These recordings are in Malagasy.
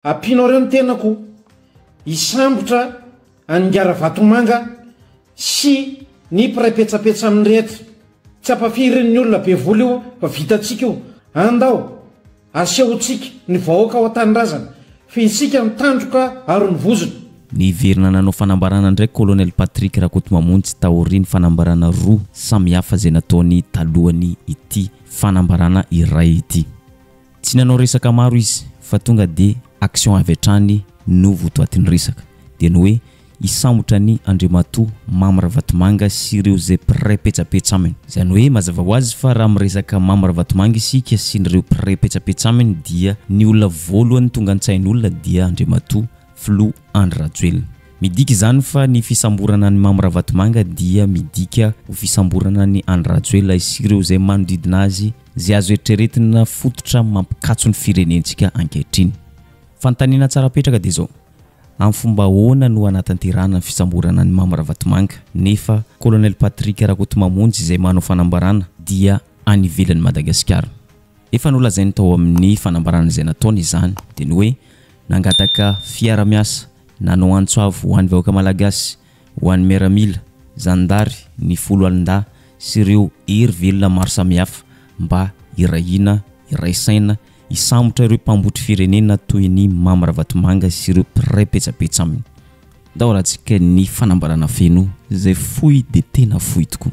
Ampianareo ny tenako hisambotra an'i Ingahy Ravatomanga sy ny mpiray petsapetsa aminy rehetra. Tsy ampafirin'ny olona be vola io fa vitantsika io. Andao asehontsika ny vahoaka ao an-tanindrazana fa isika no tandroka aro ny vozony. Niverina nanao fanambarana indray Colonel Patrick Rakotomamonjy taorian'ny fanambarana roa samihafa izay nataony talohan'ny ity fanambarana iray ity. Tsy nanao resaka maro izy fa tonga dia action avy hatrany no votoatin'ny resaka. Dia ny hoe hisambotra an'i Andriamatoa Mamy Ravatomanga sy ireo izay mpiray petsapetsa aminy. Izany hoe mazava ho azy fa raha miresaka Mamy Ravatomanga isika sy ireo mpiray petsapetsa aminy dia ny olona voalohany tonga an-tsain'olona dia Andriamatoa Filoha Andry Rajoelina. Midika izany fa ny fisamborana an'i Mamy Ravatomanga dia midika ho fisamborana an'i Andry Rajoelina sy ireo izay manodidina azy izay azo eritreretina fototra mampikatso ny firenentsika ankehitriny. Fanontaniana tsara apetraka dia izao, amin'ny fomba ahoana no hanatanterahana ny fisamborana an'i Mamy Ravatomanga nefa Colonel Patrick Rakotomamonjy izay manao fanambarana dia any ivelan'i Madagasikara? Efa nolazainy tao amin'ny fanambarana izay nataony izany, dia ny hoe nangataka fiara-miasa, nanao antso avo ho an'ny vahoaka malagasy, Ho an'ny miaramila, zandary, ny foloalindahy sy ireo hery velona maro samihafa mba hiray hina, hiray saina, hisambotra ireo mpambotry firenena toy an'i Mamy Ravatomanga sy ireo mpiray petsapetsa aminy. Ndao raha tsika ny fanambarana feno izay fohy dia tena fohy tokoa.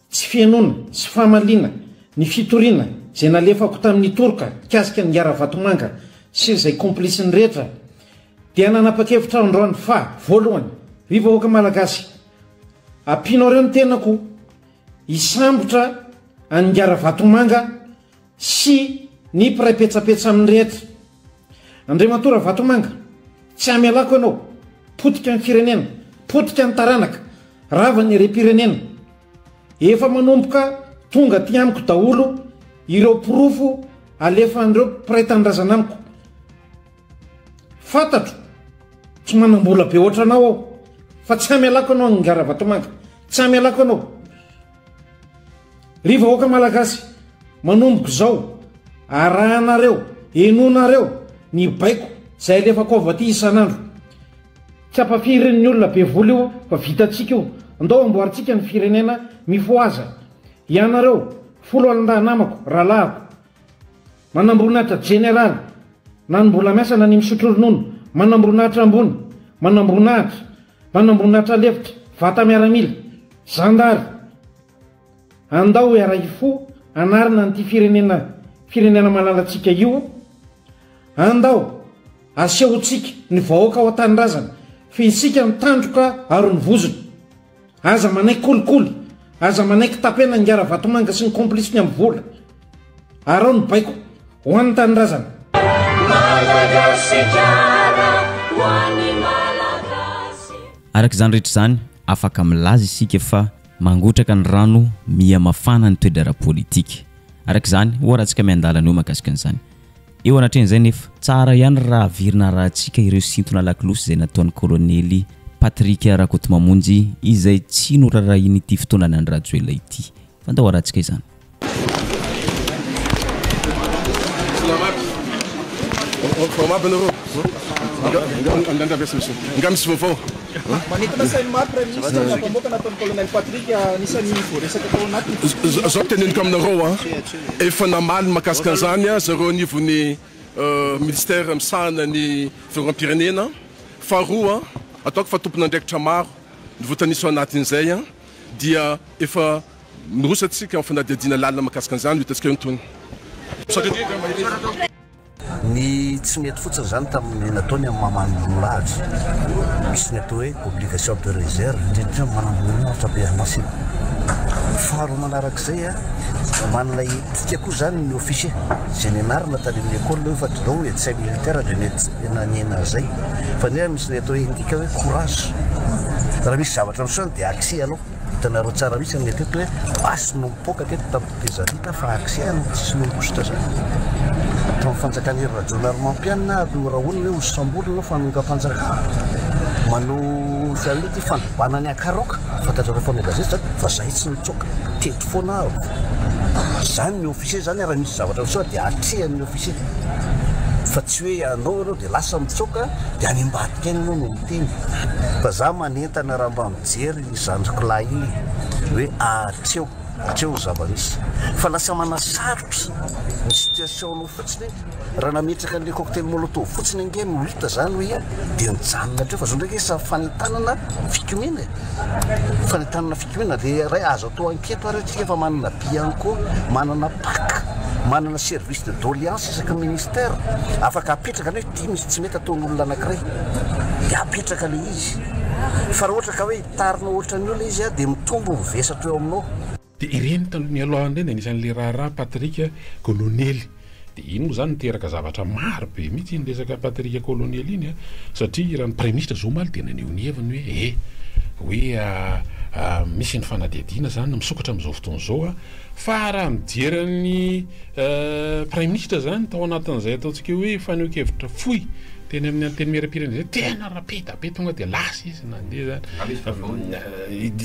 Tsy fihenoana, tsy famaliana, ny fitoriana, izay nalefako tamin'ny toroka, mikasika ny Gara Vatomanga, sy izay komplitsiny rehetra, dia nanapa-kevitra aho androany fa, voalohany, ry vahoaka Malagasy, ampianareo ny tenako hisambotra an'i Gara Vatomanga sy ny mpiray petsapetsa amin'ny rehetra. Andriamatoa Ravatomanga, tsy hamelako ianao, potika ny firenena, potika ny taranaka, rava ny herem-pirenena. Efa manomboka tonga aty amiko daholo ireo porofo alefan'ireo mpiray tanindrazana amiko. Fantatro, tsy manam-bola be ohatranao aho, fa tsy hamelako ianao Ingahy Ravatomanga, tsy hamelako ianao. Ry vahoaka malagasy, manomboka izao, arahanareo, henonareo ny baiko izay alefako ao Vati isan'andro. Tsy ampafirin'ny olona be vola io fa vitantsika io. Andao amboarintsika ny firenena, mifohaza. Ianareo, foloalindahy namako, rahalahiko. Manamboninahitra jeneraly, na ny mbola miasa na ny misotro ronono, manamboninahitra ambony, manamboninahitra, manamboninahitra lefitra, vata miaramila, zandary. Andao hiara-hifoha hanarina an'ity firenena firenena malalantsika io, andao asehontsika ny vahoaka ao an-tanindrazana fa isika no tandroka aron'ny vozona. Aza manaiky kolikoly, aza manaiky tapenana i Ngaravatomanga sy ny complice-ny amin'ny vola. Araho ny baiko, ho an'ny tanindrazana. Madagasikara ho an'ny Malagasy. Araka izany rehetra izany, afaka milaza isika fa mangotraka ny rano miha mafana ny toe-draharaha politika. Araka izany, hoharantsika miandalana eo mahakasika an'izany. Eo anatrehan'izay nefa, tsara ihany raha averina arahantsika ireo sintona lakolosy izay nataon'ny Kolonely Patrick Rakotomamonjy izay tsy norarahian'ity fotoanan'i Andry Rajoelina ity. Fantaho arahantsika izany. Efa namaly mahakasika an'izany zareo anivon'ny Minisitera misahana ny Fiarovam-pirenena. Faharoa, ataoko fa tompon'andraikitra maro no voatanisa ao anatin'izay dia efa miroso antsika amin'ny fanadihadiana lalina mahakasika an'izany, ho hitantsika eo ny tohiny. Ny tsy nety fotsiny izany tamin'ny nataony amin'ny maman'ny milahatra, misy ny atao hoe obligation de reserve, indrindra indrindra amin'ny maman'ny milahatra be an'asa iny. Faharoa manaraka izay, oman'ilay etika koa izany ny officier, izay nianarana tany amin'ny école hoe fa didon et tsy hay militaire dia mety nanena an'izay. Fa nefa misy ny atao hoe endika hoe courage, raha misy zavatra miseho dia axer ianao. Hitanareo tsara mihitsy aminay teto hoe basy no mipoaka teto tamin'ny tetezamita fa accès no tsisy noho ny kosotra zany tamin'ny fanjakan'i Hery Rajaonarimampianina ary norahonina hoe ho samborina no fanongampanjakana manao fialonana ity fandrobana ny akaroka fantatrareo mpanao gazety zany fa zahay tsy nitsoaka teto foana aho zany ny officier zany raha misy zavatra miseho dia atrehan'ny officier fa tsy hoe ianao ianao dia lasa mitsoaka dia any ambadika any ianao no miteny fa za manentana raha mba Mijery ry zandriko lahy iny hoe ahatreo hatreo ny zava-misy fa lasa manasarotra ny situation nao fotsiny iny, raha nametraka an'ilay cocktail molotov fotsiny ange no hita zany hoe ia dia nijanona hatreo fa zao ndray nge sa fanentanana fikomiana e! fanentanana fikomiana dia ray azo atao anketo ary atsika fa manana bianco, manana pac, manana service de doleance isaky ny ministère afaka apetraka anao. Dia misy tsy mety ataon'olona anankiray dia apetraka ilay izy. Fa raha ohatra ka hoe hitarinao ohatran'ny olona izy dia mitombo ny vesatro eo aminao. Dia ireny taloha nialoha ireny dia anisan'ilay raharaha Patrick Colonelli. Dia iny moa izany niteraka zavatra maro be mihitsy iny resaka Patrick Colonelli iny an! Satria raha ny Praiminisitra izao omaly dia naneho ny heviny hoe eh! hoe misy ny fanadihadiana izany misokatra amin'izao fotoana izao an! Fa raha mijery an'i Praiminisitra izany tao anatin'izay ataontsika hoe fanehoan-kevitra fohy teny amin'ny Antenimierampirenena izay, tena rapida be, tonga dia lasa izy nandeha izany.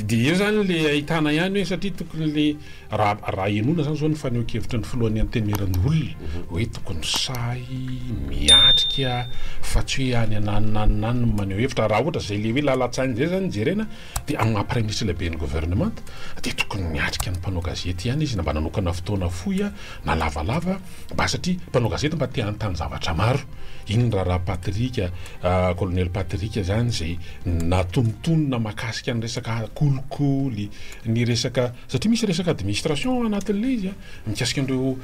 Dia eo izany ilay ahitana ihany hoe satria tokony ilay, raha henoina izany izao ny fanehoan-kevitry ny Filohan'ny Antenimierandoholona hoe tokony sahy miatrika fa tsy hoe any ananona any ananona no maneho hevitra. Raha ohatra izay ilay hoe lalan-tsaina izay izany no jerena. Dia amin'ny maha Praiminisitra lehiben'ny Governemanta dia tokony niatrika ny mpanao gazety ihany izy na mba nanokana fotoana fohy na lavalava mba satria mpanao gazety mba te hanontany zavatra maro. Iny raharaha Patrick, Kolonely Patrick izany izay natonontonona makasika ny resaka kolikoly, ny resaka, satria misy resaka administration anatin'ilay izy mikasika an'ireo.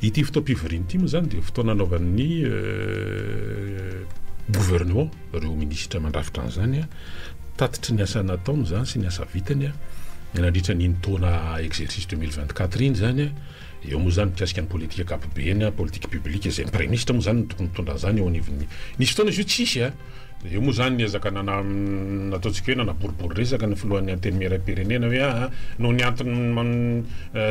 Ity fotoam-pivoriana ity moa izany dia fotoana anaovan'ny gouvernement, ireo minisitra mandrafitra an'izany, tatitry ny asa nataony izany sy ny asa vitany nandritra an'iny taona exercice 2024 iny izany an, eo moa izany mikasika ny politika ankapobeny, politique publique, izay ny praiminisitra moa izany no tokony mitondra an'izany eo anivon'ny, nisy fotoana izy io tsisy an. Eo moa izany ny ezaka nataontsika hoe nanaboribory resaka ny filohan'ny Antenimierampirenena hoe aah noho ny antony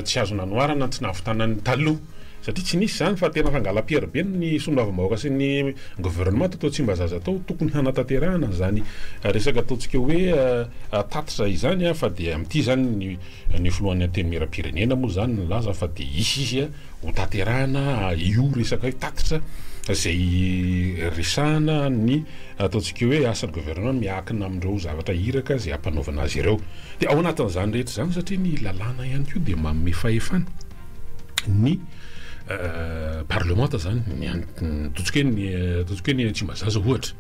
tsy azo nanoharana ny tsy nahavitana ny taloha satria tsy nisy izany fa tena fangalam-piary be ny solombavambahoaka sy ny governemanta tao Tsimbazaza tao, tokony hanatanterahana an'izany resaka ataontsika hoe tatitra izany fa dia amin'ity izany ny filohan'ny Antenimierampirenena moa izany nilaza fa dia hisy izy Ho tanterahina io resaka io tatitra izay resahana ny ataontsika hoe asan'ny governemanta miankina amin'ireo zavatra iraka izay hampanaovana azy ireo. Dia ao anatin'izany rehetra izany satria ny lalàna ihany koa dia manome fahefana ny parlemanta izany, ny ataontsika hoe ny ataontsika hoe ny Tsimbazaza ohatra,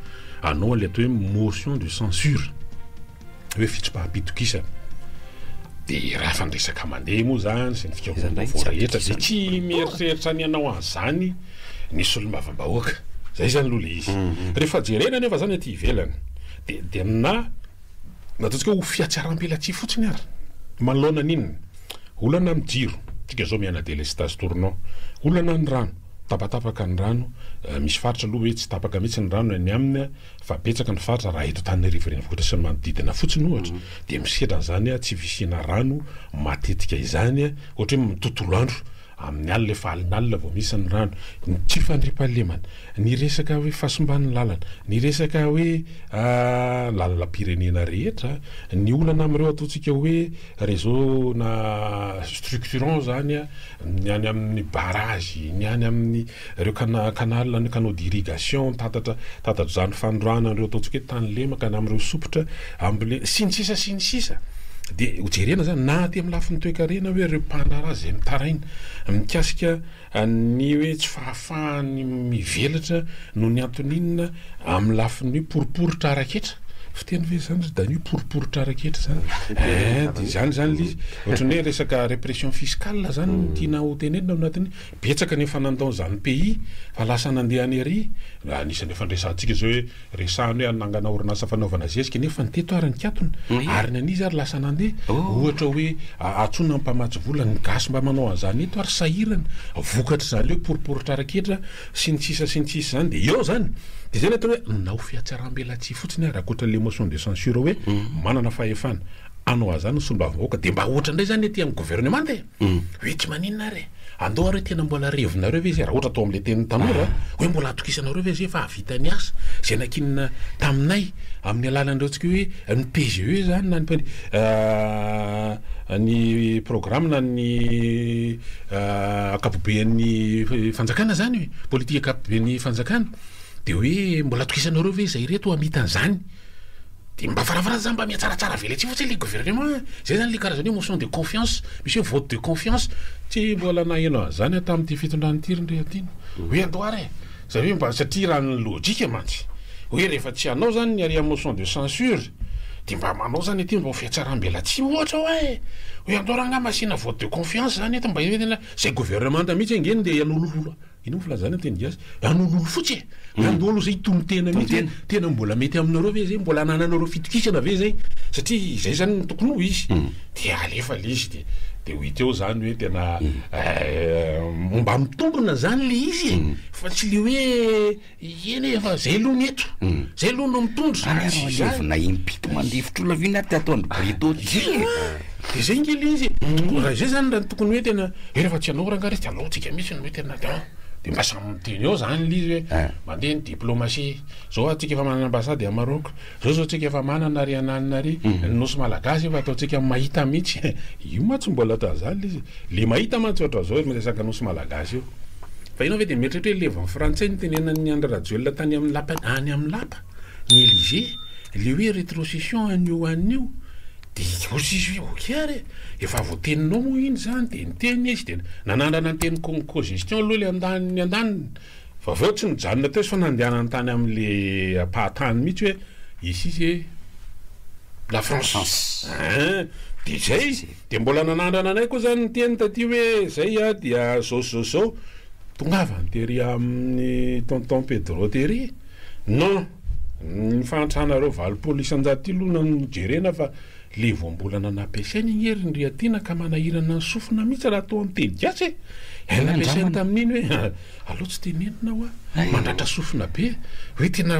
hanao an'ilay atao hoe motion de censure. hoe fitsipaham-pitokisana. Dia raha efa niresaka mandeha moa izany sy ny fikaroham-baovao rehetra dia tsy mieritreritra ny hanao an'izany ny solombavambahoaka. Izay izany aloha ilay izy. Mhm, mhm. Rehefa jerena anefa izany aty ivelany dia dia na na ataontsika hoe ho fihatsaram-pelatsihy fotsiny ary manoloana an'inona? Olana amin'ny jiro, tsika izao miana délestage tournant, olana ny rano, tapatapaka ny rano, eh, misy faritra aloha hoe tsy tapaka mihitsy ny rano any aminy Fa betsaka ny faritra, raha eto Antananarivo Renivohitra sy ny manodidina fotsiny ohatra, dia misedra an'izany tsy fisiana rano matetika izany, ohatra hoe tontolo andro, amin'ny alina, efa alinalina vao misy ny rano. Ny tsy fandriampahalemana, ny resaka hoe fahasimban'ny lalana, ny resaka hoe lalalam-pirenena rehetra, ny olana amin'ireo ataontsika hoe réseau na structurant izany, ny any amin'ny barrage, ny any amin'ny Ireo cana canal na canaux d'irrigation mitatatra tatatra-dran'ny fanondroahana an'ireo ataontsika hoe tany lemaka na amin'ireo sompitra ambole sy ny sisa sy ny sisa dia ho jerena izany na aty amin'ny lafiny toekarena hoe ireo mpandraharaha izay mitaraina mikasika ny hoe tsy fahafahany mivelatra noho ny antony inona amin'ny lafiny hoe poriporitra ara-ketra fiteny ve zany ry Danio poriporitra ara-ketra zany eh dia izany zany ilay izy ohatran'ny hoe resaka répression fiscale zany no tiana hotenenina ao anatin'ny Betsaka ny efa nandao an'izany pays fa lasa nandeha any ery, anisan'ny efa niresahantsika izao hoe resahany hoe hanangana orinasa fanaovana zezika nefa ny teto ary nikatona, ary ny an'izy ary lasa nandeha, ohatra hoe antsoina ny mpamatsy vola, ny gasy mba manao an'izany eto ary sahirana, vokatr'izany hoe poriporitra ketra sy ny sisa sy ny sisa izany dia eo izany, dia izay ny atao hoe manao fihatsaram-belatsihy fotsiny ary ankoatra ilay motion de censure hoe manana fahefana hanao an'izany ny solombavambahoaka, dia mba ohatra indray izany aty amin'ny governemanta e! Humm wiki maninona ary e? Andao ary hoe tena mbola revinareo ve izay raha ohatra atao amin'ilay tenin'ny tanora a? Hoe mbola atokisanareo ve izay fa hahavita ny asa izay nankinina taminay amin'ny alalan'ireo antsika hoe ny PGE izany na ny ny programme na ny ankapoben'ny fanjakana izany e? Politika ankapoben'ny fanjakana dia hoe mbola atokisanareo ve izay ireto hamita an'izany? Dia mba varavarana zany mba mihatsaratsara veletsy fotsiny ilay gouvernement a! Izay zany ilay karazany hoe motion de confiance, misy hoe vote de confiance. Tsy mbola naheno an'izany aho tamin'ity fitondran'i Ity Rindriantina. Hoe andao ary e! Izany hoe mba, satria raha ny logique mantsy, hoe rehefa tsy hanao zany ny harea motion de censure, dia mba manao zany ity mba ho fihatsaram-belatsihy ohatra hoa e! Hoe andao raha angaha mba asiana vote de confiance zany eto mba hoe tena, izay gouvernemanta mihitsy ange no ndeha hanolololo. Inona ny filazana teny gasy? An'ololo fotsy e! An'olo izay tonon-tena mihitsy hoe tena mbola mety aminareo ve izay? Mbola anananareo fitokisana ve izay? Satria izay izany no tokony ho izy. Dia alefa ilay izy dia dia ho hita eo izany hoe tena mba mitombina izany ilay izy e! Fa tsy ilay hoe. Ie ne efa zay loha ny eto zay loha no mitondra ary azo alevina impito mandefitro laviana ary tato andry brito ty e de zay nge le izy e raha izay zany raha ny tokony hoe tena hoe refa tsy anao rangah re tsy anao tsika mitsy no hoe tena de an de mba samy miteny eo zany le izy hoe mandeha ny diplomatie zao atsika efa manana ambassade a Maroc Zao zao tsika efa manana ry ananina ry, ny nosy malagasy efa ataontsika mahita mitsy, io ma tsy mbola atao zany le izy, le mahita mantsy ohatran zao miresaka nosy malagasy io, fa enao ve de mieritreritra hoe levon'ny frantsay nitenenan'ny Andry Rajoelina tany amin'ny lapa any amin'ny lapa ny Elysee le hoe retrocession anio anio de io sisa hoe ok ary efa voateninao moa iny zany de niteny izy de nanandrana niteny co-gestion aloha le andaniny andaniny Fa avy eo tsy nijanona teo izy fa nandehanany tany amin'le ampahan-tany mihitsy hoe ici c'est la France hein! dia izay dia mbola nanandrana anay koa izany niteny taty hoe izay aho dia izao sy izao sy izao, tongava ny tery amin'i tonton Pedro tery, non! ny fahantranareo valopolo isan-jato ity aloha no jerena fa le voambolana nampiasainy anie ry Ndriatiana ka manahirana ny sofina mihitsy raha toa miteny gasy e! nampiasainy tamin'iny hoe. Alou tsy te nenina wa, mandratra sofina be, hoe tena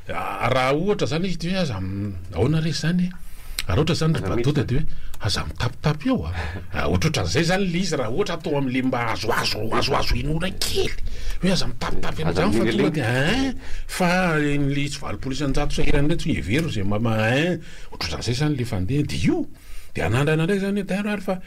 raha ohatra zany izy de hoe aza ahoana re zany e, raha ohatra zany ry Badota de hoe aza mitapitapy eo a, ohatrohatran'izay zany le izy raha ohatra atao amle mba azoazo azoazo inoana kely, hoe aza mitapitapy an'izany fa tonga de ein fa le izy valopolo isan-jato sahirana reto hevero ze mba ein ohatrohatran'izay zany le fandeha de io de anandrana ndray zany hoe dairo ary fa.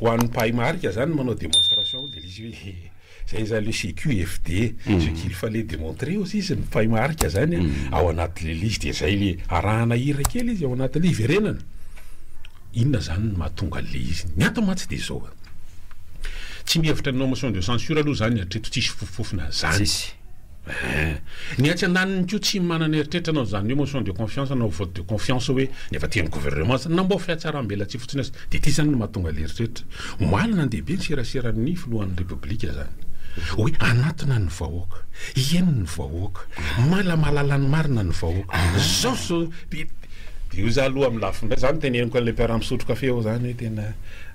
Ho an'ny mpahay marika izany ny manao démonstration dia ilay izy hoe izay izany le CQFD, mm. ce qu'il fallait démontrer aussi izy ny mpahay marika izany mm. ao anatin'ilay lisy dia izay le arahana hira kely izy ao anatin'ilay hiverenana. Inona izany no mahatonga an'ilay izy? Ny ato mantsy dia izao. Tsy mihevitra ny nomotion de censure aloha izany hatreto tsisy fofofofona izany. Eeh. Ny atsy andaniny koa tsy manana eritreritra anao izany hoe motion de confiance na vote de confiance hoe ny avy aty amin'ny gouvernement izany. Namboho fihatsarambelatsihy fotsiny aza. Dia ity izany no mahatonga ilay eritreritra. Omaly nandehabe ny seraseran'ny filohan'ny repoblika izany. Hoe hanatona ny vahoaka. Hieno ny vahoaka. Mala mahalala ny marina ny vahoaka. Izao izao. Dia io izaho aloha amin'ny lafiny iray, izaho noteneniko an'ilay mpiara-misotro kafe aho izany hoe tena.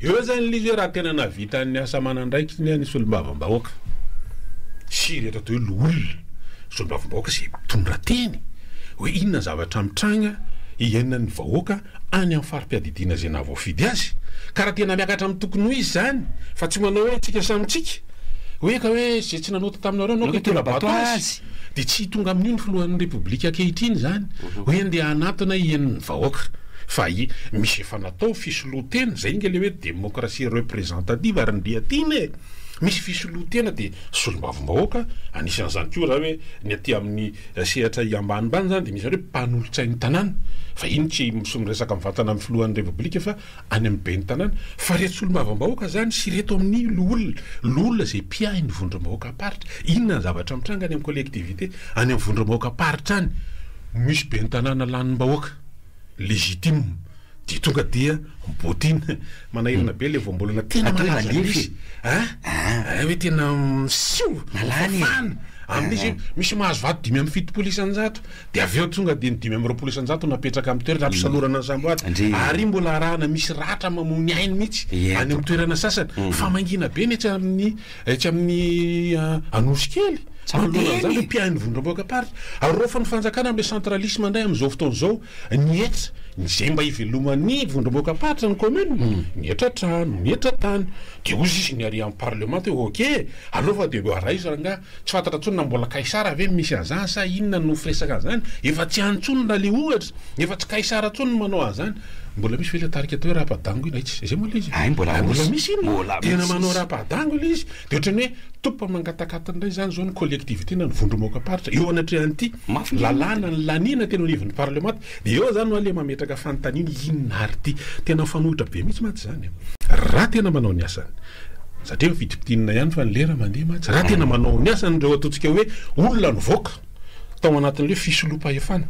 Eo zany lzy hoe raha tena nahavita ny asa aman'andraikiny ny solombavambahoaka sy ireto atao hoe loholona solombavambahoaka izay mitondra teny hoe inona ny zavatra mitranga iainan'ny vahoaka any amin'ny fari-piadidiana izay nahavoafidy azy ka raha tena miakatra amin'ny tokony ho izy izany fa tsy manao hoe tsika samy tsika hoe ka hoe izay tsy nanota taminareo anao ka hitondra bato azy. Dia tsy tonga amin'io ny filohan'ny Repoblika ankehitriny izany hoe andeha hanatona hiany ny vahoaka. Fa misy efa natao fisoloan-tena, izay nge ilay hoe démocratie représentative ary ndeha tiana e! Misy fisoloan-tena dia solombavambahoaka, anisan'izany koa raha hoe ny aty amin'ny sehatra ambanimbany izany dia misy izany hoe mpanolotsain'ny tanàna, fa iny tsy miresaka mivantana amin'ny filohan'ny Repoblika fa any amin'ny ben'ny tanàna, fa ireto solombavambahoaka izany sy ireto amin'ny loholona, loholona izay mpiahy ny vondrom-bahoakam-paritra, inona ny zavatra mitranga any amin'ny collectivité, any amin'ny vondrom-bahoakam-paritra any, misy ben'ny tanàna lanim-bahoaka, légitime, dia tonga dia botin, manahirana be ilay voambolana, tena malala izany misy, an, an, hoe tena, siu, fafana, amin'izy io, misy mahazo vato dimy amby fitopolo isan-jato, Dia avy eo tonga dia ny dimy amby roapolo isan-jato no napetraka amin'ny toerana hampisalorana ny samboady. Ary io mbola arahana misy ratra mamoa ny ainy mihitsy any amin'ny toerana sasany. Fa mangina be ny etsy amin'ny etsy amin'ny Anosikely. Manoloana an'izany ireo mpiahy vondrom-boakaparitra. Araofan' ny fanjakana amin'ilay centralisme indray amin'izao fotoana izao ny hetra izay mba hiveloman'ny vondrom-boakaparitra ny kaominina. Mihetra trano, mihetra tany. Dia hoy sisa ny ary amin'ny parlemanta hoe ok, aleo fa dia arahizo rangahy. Tsy fantatra intsony na mbola Kaisara ve misy an'izany sa inona no firesaka an'izany? Efa tsy any intsony raha le ohatra, efa tsy Kaisara intsony no manao an'izany. Mbola misy ve ilay tarika atao hoe Rapadango iny? Aichh, izay moa ilay izy? Hay mbola misy iny e! Tena manao Rapadango ilay izy. Dia ohatran'ny hoe top mangatakata indray izany izao ny collectivité na ny vondrom-aokaparitra eo anatrehan'ity lalàna nilaniana teny anivon'ny parlemanta. Dia eo zany no aleha mametraka fanontaniana inona ary ity. Tena mifanohitra be mihitsy mantsy izany an. Raha tena manao ny asany. Satria efa fidimpitinina ihany fa ny lera mandeha mantsy. Raha tena manao ny asany ireo ataontsika hoe olona nivoaka tao anatin'ilay fisoloam-pahefana,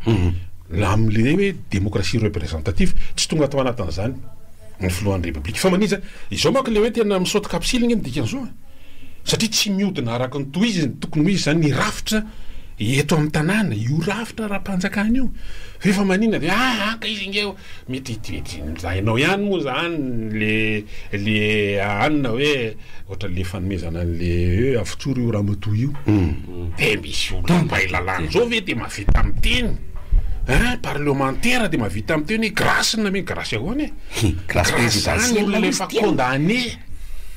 amin'ilay hoe démocratie représentative, tsy tonga tao anatin'izany ny filohan'ny Repoblika. Fa manintsa, izao manko ilay hoe tena misaoty kapsily ange ny dikan'izao an. satria tsy mihodina araka ny tohiziny, tokony ho izy izany ny rafitra eto amin'ny tanàna, io rafitra ara-panjakana io, fa efa maninona ve ah haka izy ange oh, mety enjahinao ihany moa izany le le anona hoe ohatra le fanomezana an'le hoe avotsory io ramatoa io, dia misy olona mpahay lalàna izao ve dia mahavita miteny eh, parlemantera dia mahavita miteny hoe grâce na mi-grâce ahoana e, grâce zany olona efa condamné.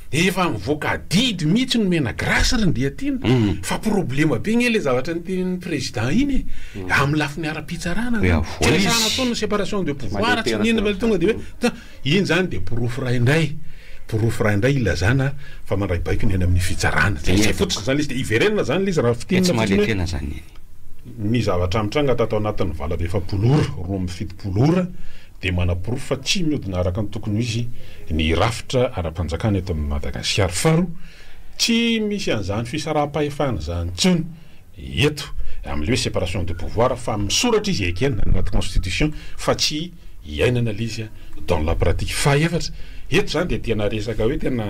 Efa mivoaka adidy mihitsy ny Menagrace ry Ndriatiana fa problema be nge le zavatra ntenin'ny président iny e, amin'ny lafiny ara-pitsarana zany, tsy resahana atsony ny séparation de pouvoir tsy n'inona fa tonga de hoe ta, iny zany de porofo iray indray, porofo iray indray ilazana fa mandray baiko ny any amin'ny fitsarana, zay fotsiny zany le izy de hiverenana zany le izy raha fintinina fotsiny hoe. Ny zavatra nitranga tato anatin'ny valady efapolo ora, roa amby fitopolo ora, dia manaporofo fa tsy mihodina araka ny tokony ho izy ny rafitra ara-panjakana eto amin'i Madagasikara. Faharoa, tsy misy an'izany fisaraham-pahefana izany intsony eto, amin'ilay hoe séparation de pouvoir, fa misoratra izy ekena any anaty constitution fa tsy iainana ilay izy dans la pratique. Fahaefatra, eto izany dia tena resaka hoe tena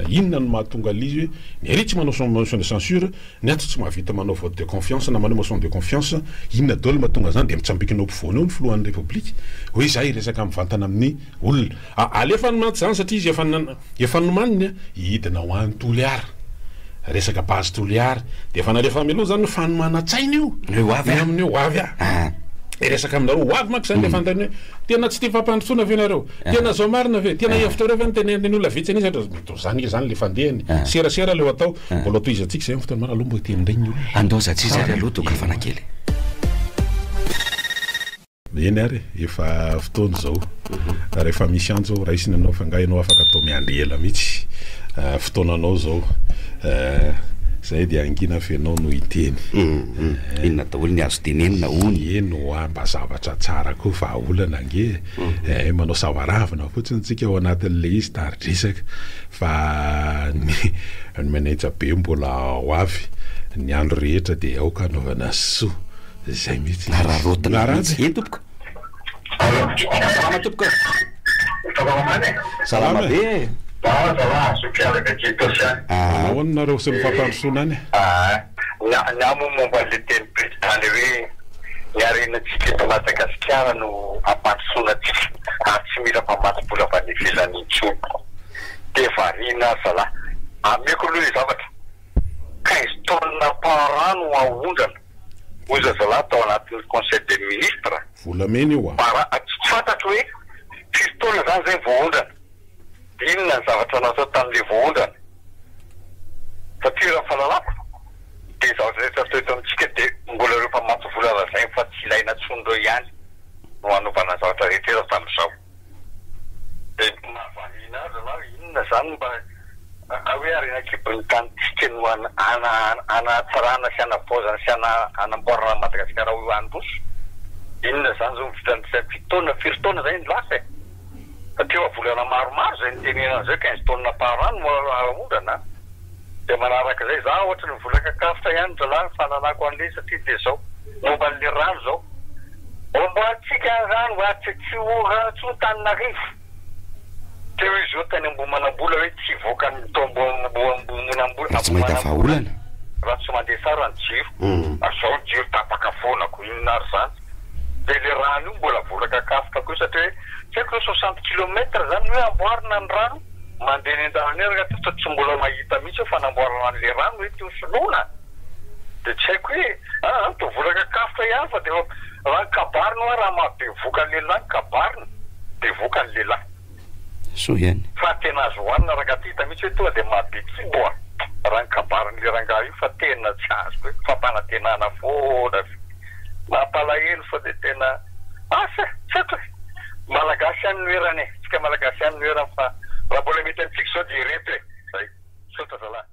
inona no mahatonga ilay izy hoe ny ary tsy manao motion de censure, Ny ato tsy mahavita manao vote de confiance na manao motion de confiance, inona daoly mahatonga zany de mitsambikina eo ampovoany eo ny filohan'ny repoblika hoe zah hiresaka mivantana amin'ny olona, ah alefany mantsy zany satria izy efa efa nomaniny an, hidina ho any Toliara, resaka base Toliara de efa nalefa mialoha zany hoe fanomanan-tsaina io, hoe ho avy aminy hoe ho avy ah, hiresaka aminareo ho avy manko zany le fanontaniana hoe tena tsy tia fampandrosoana ve nareo, tena zao marina ve, tena hevitrareo ve ny tenenin'ny olona vitsy an'isa, mety ho zany nge zany le fandehany, serasera le ho atao. Mbola ho tohizantsika izay amin'ny fotoana maro aloha mba hiteny indray ny olona. Andao zatriza ary aloha toa kafana kely. Eny ary e, efa fotoana izao. Rehefa misy antso ao raisina ianao fa angaha ianao afaka atao miandry ela mihitsy. Fotoananao izao. Izay dia hangina fa ianao no hiteny. Inona daholo ny azo tenenina hono. Eny hoa mba zavatra tsara koa vahaolana ange e. Manao savaravina fotsiny tsika ao anatin'ilay izy tari-dresaka. Fa ny ny manaitsa be mbola ho avy, ny andro rehetra dia aoka anaovana soa. Izay mihitsy ilay izy. Araraotina Naranja mihitsy. E tompoko. Salama tompoko e. Salama man e. Salama be e. Za zalahy Zokiala Betito Sian. Manao ahoana nareo sy ny fampandrosoana any e? Aa. Ny ahy moa momba an'ilay teny prezida ilay hoe ny harenantsika eto Madagasikara no hampandrosoana antsika ary tsy mila mamatsy vola avy any ivelany intsony dia variana ary zalah. Ameko aloha ilay zavatra quinze tonnes par an no haondrana hoy zazalahy tao anatin'ny conseil des ministres Volamena io a! par an, tsy fantatro hoe firy taona izany izay no voaondrana. Inona ny zavatra natao tamin'ilay voaondrana? Satria raha ny fahalalako dia ny zavatra rehetra natao eto amintsika dia mbola ireo mpamatsy vola lazainy fa tsy ilaina intsony ireo ihany no anovana ny zavatra rehetra eto hatramin'izao. Dia ny mahavariana azy anao inona izany mba hoe harena an-kibon'ny tanintsika no hanatsarana sy hanavaozana sy hanamboarana an'i Madagasikara ho eo handroso? Inona izany izao ny vitan'ny fito taona, firy taona izay no lasa e? Teo amin'ny volana maromaro izay nitenenana izay, quinze tonnes par an no aondrana an! Dia manaraka izay, za ohatry ny vola kakafotra ihany ry zalahy ny fananako an'le satria dia zao, momba an'le rano zao, amboarintsika ny rano ary tsy tsy ho rano intsony Antananarivo! Teo izy io tany Ambohimanambola hoe tsy hivoaka ny tao Ambohimanambola Dia tsy mahita vahaolana? raha tsy mandeha tsara ny jiro, zao ny jiro tapaka foana ko inona ary zany? dia ilay rano io mbola voarakakafoka koa satria hoe tsy haiko hoe soixante kilomètre zany no hoe amboarina ny rano mandeha eny andalamera aty fa tsy mbola mahita mihitsy aho fanamboarana an'ilay rano eto io soloina dia tsy haiko hoe an an toa voarakakafoka ihany fa dia efa raha ny kabary no hoe raha maha bevoka ny lehilahy ny kabary no bevoka ny lehilahy soa ihany. Fa tena azo ohanina rangah ty hita mihitsy hoe tonga dia mahabetsibo a! Raha ny kabarin'le rangah io fa tena tsy azoko hoe fampanantenana foana ve? Mampalahelo fa dia tena asa e! Tsy haiko e! Malagasy ihany no erany e! Tsika malagasy ihany no erany fa raha mbola mety amintsika izao dia ireto e! Zay! Misaotra zalahy.